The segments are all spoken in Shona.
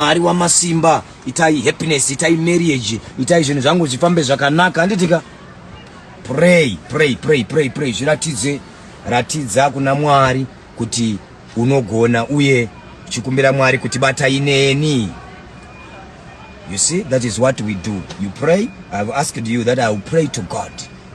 Mwari wamasimba itai happiness itai marriage itai zvinhu zvangu zvifambe zvakanaka handitika pray pray pray pray pray zviratidze ratidza kuna Mwari kuti unogona uye chikumbira Mwari kuti batai neni you see that is what we do you pray i have asked you that i will pray to God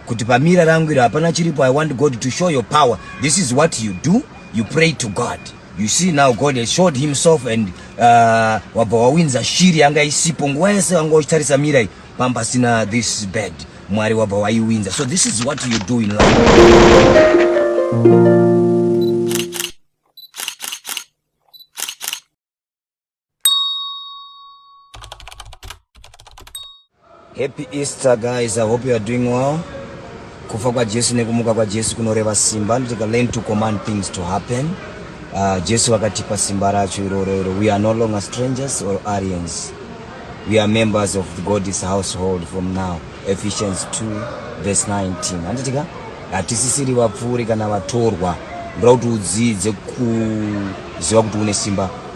kuti pamira rangu iri hapana chiripo i want God to show your power this is what you do you pray to God You see now God has showed himself and uh, wabva wawinza shiri yanga isipo nguva yese wanga uchitarisa mirai pamba pasina this bed mwari wabva waiwinza so this is what you do in life Happy Easter guys, I hope you are doing well. Kufa kwa Jesu nekumuka kwa Jesu kunoreva simba and to learn to command things to happen. Uh, Jesu wakatipa simba racho iroro iro. We are no longer strangers or aliens. We are members of the God's household from now. Ephesians 2 verse 19. Handitika hatisisiri vapfuuri kana vatorwa. Ndoda kuti udzidze kuziva kuti une simba.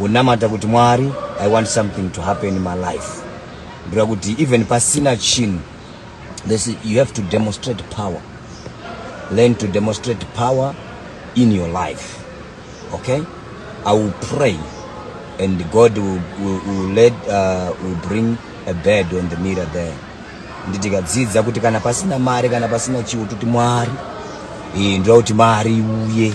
wonamata kuti mwari i want something to happen in my life ndira kuti even pasina chinhu this you have to demonstrate power learn to demonstrate power in your life okay i will pray and god will, will, will, let, uh, will bring a bed on the mirror there nditikadzidza kuti kana pasina mari kana pasina chiwo toti mwari eh, ndoda kuti mari uye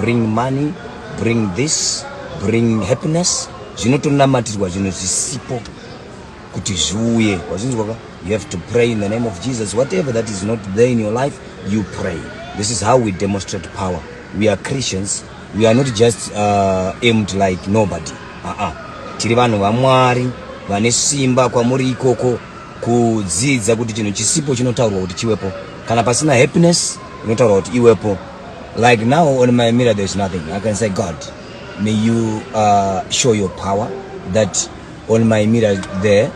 bring money bring this bring happiness zvinotonamatirwa zvinhu zvisipo kuti zviuye wazvinzwa ka you have to pray in the name of jesus whatever that is not there in your life you pray this is how we demonstrate power we are christians we are not just uh, aimed like nobody aa uh -uh. tiri vanhu vamwari vane simba kwamuri ikoko kudzidza kuti chinhu chisipo chinotaurwa kuti chiwepo kana pasina happiness inotaurwa kuti iwepo Like now on my mirror there's nothing. I can say God, may you uh, show your power that on my mirror there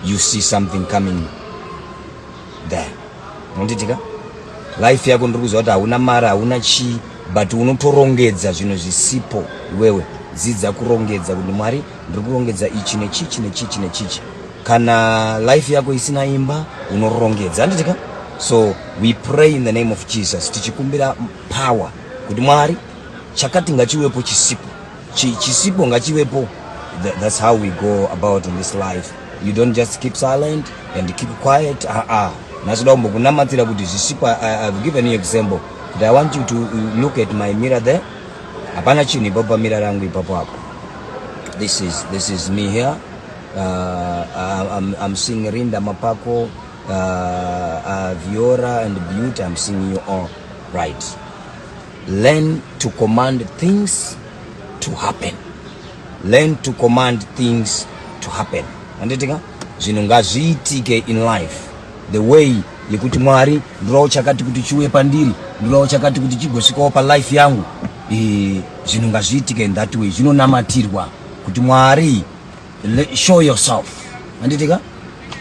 you see something coming there. Unonditika? Life yako ndiri kuziva kuti hauna mari, hauna chii but unotorongedza zvinhu zvisipo iwewe. Dzidza kurongedza kuti Mwari ndiri kurongedza ichi nechichi nechichi nechichi. kana life yako isina imba unorongedza handiti ka so we pray in the name of jesus tichikumbira power kuti mwari chakati ngachiwepo chisipo chisipo ngachiwepo that's how we go about in this life you don't just keep silent and keep quiet aa ah, ah. nasoda kumbokunamatira kuti zvisipo i've given you example kuti i want you to uh, look at my mirror there hapana chinhu ipapo pamira rangu ipapo apo this is, this is me here uh, I'm, I'm seeing Rinda Mapako, uh, uh, Viora and Beauty, I'm seeing you all right. Learn to command things to happen. Learn to command things to happen. Anditika? Zvinhu ngazviitike in life. The way yekuti Mwari ndinowo chakati kuti chiuye pandiri, ndinowo chakati kuti chigosvikawo pa life yangu. Eh, zvinhu ngazviitike in that way. Zvinonamatirwa kuti Mwari show yourself handitika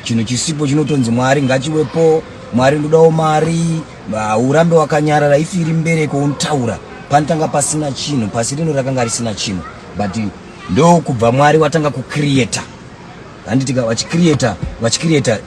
chinhu chisipo chinotonzi mwari ngachiwepo mwari ndodawo mari urambe wakanyarara ifi iri mbereko unotaura panotanga pasina chinhu pasi rino rakanga risina chinhu but ndokubva mwari watanga kucreata handitika vachicreata vachicreata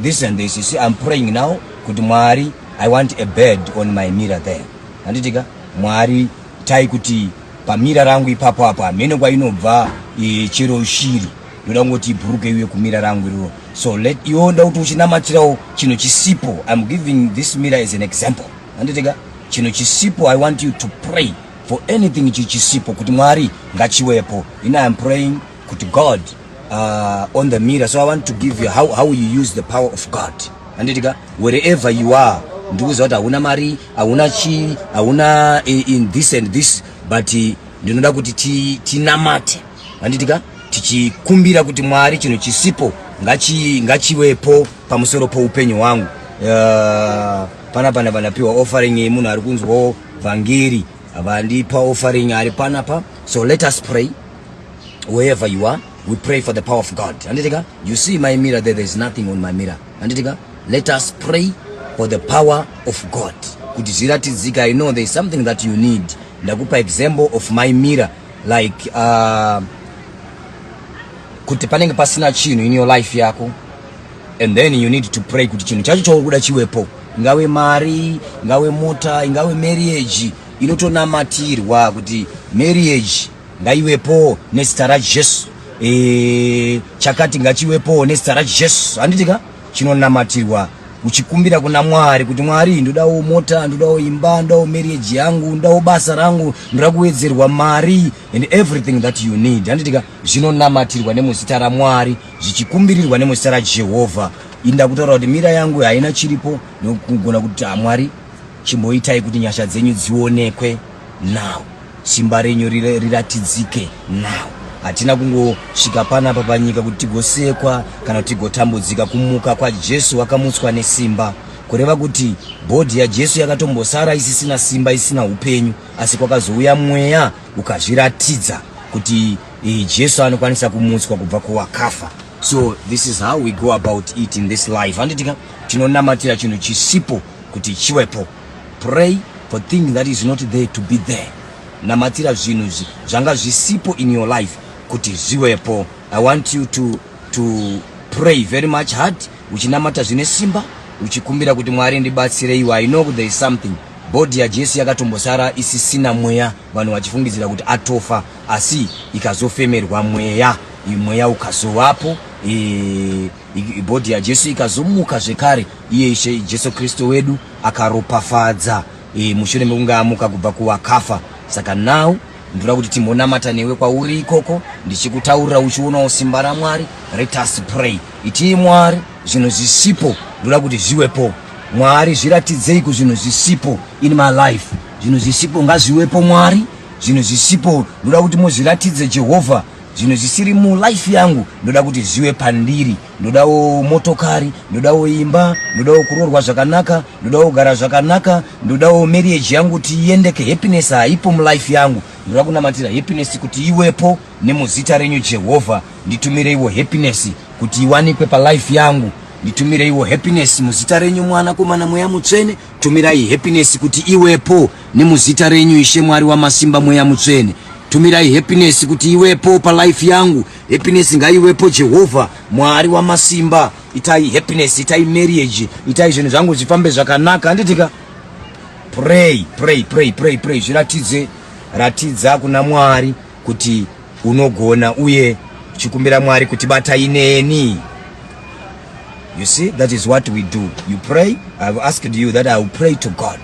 this and this you see i'm praying now kuti mwari i want a bed on my mirror there handitika mwari tai kuti Pamira rangu ipapo apo hamene kwainobva e, chero shiri ndoda kungoti ibhuruke iwe kumira rangu iroro so let iwo nda kuti uchinamatirawo chino chisipo iam giving this mira as an example anditega chino chisipo i want you to pray for anything ichi chisipo kuti mwari ngachiwepo ini iam praying kuti god uh, on the mirror so i want to give you how, how you use the power of god anditika wherever you are ndikuziva kuti hauna mari hauna chii hauna in this and this but eh, ndinoda kuti tinamate anditika tichikumbira kuti mwari chinhu chisipo ngachiwepo pamusoro poupenyu hwangu uh, pana pana vanapiwa offering iyi munhu ari kunzwawo vhangeri vandipa offering ari panapa so let us pray wherever you are we pray for the power of god handitika you see my mirror there, there is nothing on my mirror handitika let us pray for the power of god kuti zviratidzika i know there is something that you need ndakupa example of my mirror like uh, kuti panenge pasina chinhu in your life yako and then you need to pray kuti chinhu chacho chauri kuda chiwepo ingave mari ingave mota ingave marriage inotonamatirwa kuti marriage ngaiwepowo nezita rajesu e, chakati ngachiwepowo nezita rajesu handiti ka chinonamatirwa uchikumbira kuna mwari kuti mwari ndodawo mota ndodawo imba ndodawo marriage yangu ndodawo basa rangu ndoda kuwedzerwa mari and everything that you need handiti ka zvinonamatirwa nemuzita ramwari zvichikumbirirwa nemuzita rajehovha inda kutaura kuti mira yangu haina chiripo nokugona kuti hamwari chimboitai kuti nyasha dzenyu dzionekwe now simba renyu riratidzike now hatina kungosvika panapa panyika kuti tigosekwa kana kuti tigotambudzika kumuka kwajesu wakamutswa nesimba kureva kuti bhodhi yajesu yakatombosara isisina simba isina upenyu asi kwakazouya mweya ukazviratidza kuti eh, jesu anokwanisa kumutswa kubva kuwakafa so this is how we go about it in this life handitika tinonamatira chinhu chisipo kuti chiwepo Pray for thing that is not there to be there. Namatira zvinhu izvi zvanga zvisipo in your life kuti zviwepo. I want you to, to pray very much hard uchinamata zvine simba uchikumbira kuti Mwari ndibatsire iwe. I know there is something bhodhi yaJesu yakatombosara isisina mweya vanhu vachifungidzira kuti atofa asi ikazofemerwa mweya mweya ukazovapo e, Body yaJesu ikazomuka zvekare, iye Ishe Jesu Kristu wedu akaropafadza e, mushure mekunge amuka kubva kuvakafa. Saka now ndoda kuti timbonamata newe kwauri ikoko ndichikutaurira uchionawo simba ramwari let us pray itii mwari zvinhu zvisipo ndoda kuti zviwepo mwari zviratidzei kuzvinhu zvisipo in my life zvinhu zvisipo ngazviwepo mwari zvinhu zvisipo ndoda kuti muzviratidze jehovha zvinhu zvisiri mulife yangu ndoda kuti zviwe pandiri ndodawo motokari ndodawo imba ndodawo kuroorwa zvakanaka ndodawo kugara zvakanaka ndodawo marriage yangu kuti iendeke happiness haipo mulife yangu ndoda kunamatira happiness kuti iwepo nemuzita renyu jehovha nditumireiwo happiness kuti iwanikwe palife yangu nditumireiwo happiness muzita renyu mwana komana mweya mutsvene Tumirai happiness kuti iwepo nemuzita renyu ishe mwari wamasimba mweya mutsvene tumirai happiness kuti iwepo palife yangu happiness ngaiwepo jehovha mwari wamasimba itai happiness itai marriage itai zvinhu zvangu zvifambe zvakanaka handitika pray pray pray pray pray zviratidze ratidza kuna mwari kuti unogona uye uchikumbira mwari kuti batai neni you see that is what we do you pray i have asked you that i will pray to god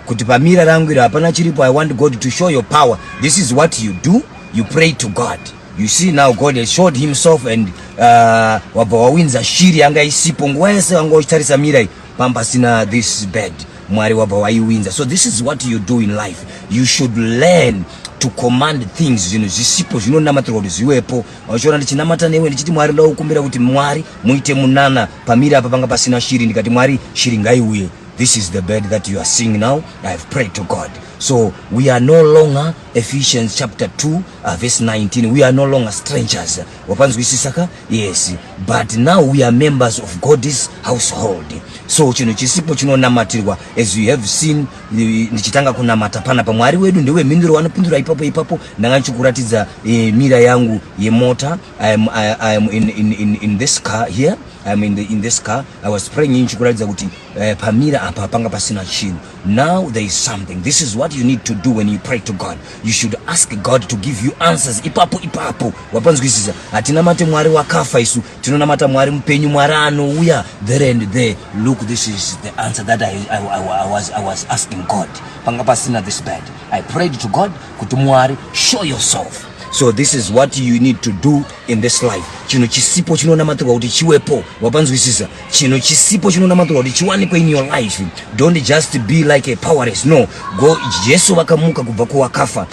kuti pamira rangu iri hapana chiripo i want god to show your power this is what you do you pray to god you see now god has showed himself and uh, wabva wawinza shiri yanga isipo nguva yese wanga uchitarisa mira iyi Pambasina this is bad. Mwari wabva waiwinza. So this is what you do in life. You should learn to command things zvinhu zvisipo zvinonamatirwa kuti zviwepo vachiona ndichinamata newe ndichiti mwari ndoda kukumbira kuti mwari muite munana pamiri apa panga pasina shiri ndikati mwari shiri ngaiuye this is the bed that you are seeing now i have prayed to god so we are no longer ephesians chapter 2 uh, verse 19 we are no longer strangers wapanzwisisa ka yes but now we are members of god's household so chinhu chisipo chinonamatirwa as you have seen eh, ndichitanga kunamata pana pa mwari wedu ndewe mhinduro wanopindura ipapo ipapo ndanga ndichikuratidza uh, mira yangu yemota I am, I, I am in, in, in, in this car here I am in, the, in this car i was praying ndichikuratidza kuti uh, pamira apa panga pasina chinhu Now there is something. This is what you need to do when you pray to God. You should ask God to give you answers. Ipapo ipapo wapanzwisisa. Hatinamate Mwari wakafa isu. Tinonamata Mwari mupenyu, Mwari anouya there and there. Look, this is the answer that I, I, I, I, was, I was asking God. Panga pasina this bad. I prayed to God kuti Mwari show yourself. So this is what you need to do in this life. Chino chisipo chinonamatirwa kuti chiwepo. Wapanzwisisa. chinhu chisipo chinonamatirwa kuti chiwanikwe in your life don't just be like a powerless no go jesu vakamuka kubva kuwakafa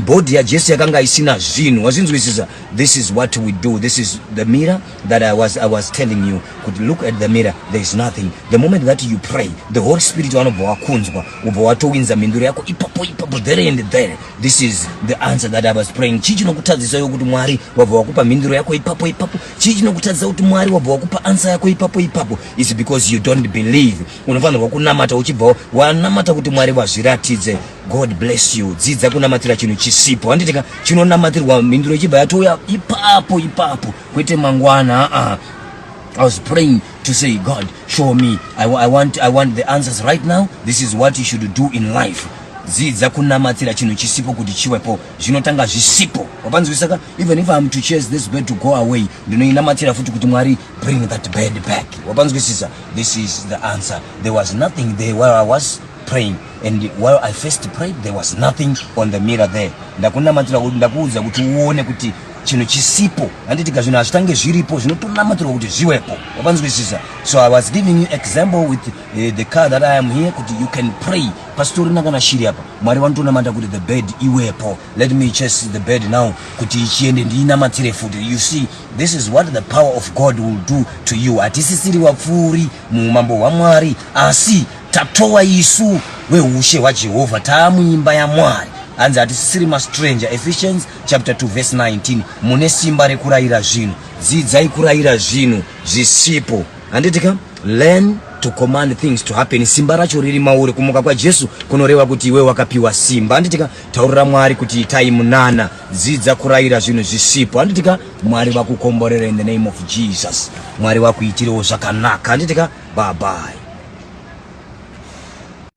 body yajesu yakanga isina zvinhu wazvinzwisisa this is what we do this is the mirror that I was, i was telling you kuti look at the mirror there is nothing the moment that you pray the holy spirit vanobva wakunzwa ubva watowinza mhinduro yako ipapo ipapo there and there this is the answer that i was praying chii chinokutadzisa yo kuti mwari wabva wakupa mhinduro yako ipapo ipapo chii chinokutadzisa kuti mwari wabva wakupa ansa yako ipapo ipapo is because you don't believe unofanirwa kunamata uchibvawo wanamata kuti mwari vazviratidze god bless you dzidza kunamatira chinhu chisipo handiti ka chinonamatirwa mhinduro ichibva yatouya ipapo ipapo kwete mangwana aa I was praying to say, God, show me. I, I, want, I want the answers right now. This is what you should do in life. Zidza kunamatira chinhu chisipo kuti chiwepo. Zvinotanga zvisipo. Wapanzwisaka? even if I'm to chase this bird to go away ndinoinamatira futi kuti mwari bring that bird back wapanzwisisa this is the answer there was nothing there while i was praying and while i first prayed there was nothing on the mirror there ndakunamatira ndakuudza kuti uone kuti chinhu chisipo handitika zvinhu hazvitange zviripo zvinotonamatirwa kuti zviwepo wapanzwisisa so i was giving you example with uh, the car that i am here kuti you can pray pasitorina kana shiri apa mwari vanotonamata kuti the bed iwepo let me chase the bed now kuti ichiende ndiinamatire futi you see this is what the power of god will do to you hatisisiri wapfuuri muumambo hwamwari asi tatowa isu weushe hwajehovha taamuimba yamwari hanzi hatisisiri mastranger ephesians chapter 2 verse 19 mune simba rekurayira zvinhu dzidzai kurayira zvinhu zvisipo handiti ka learn to command things to happen simba racho riri mauri kumuka kwajesu kunoreva kuti iwe wakapiwa simba handiti ka Taurira Mwari kuti itai munana, dzidza kurayira zvinhu zvisipo. Handitika Mwari vakukomborera in the name of Jesus. Mwari vakuitirewo zvakanaka. Handitika bye bye.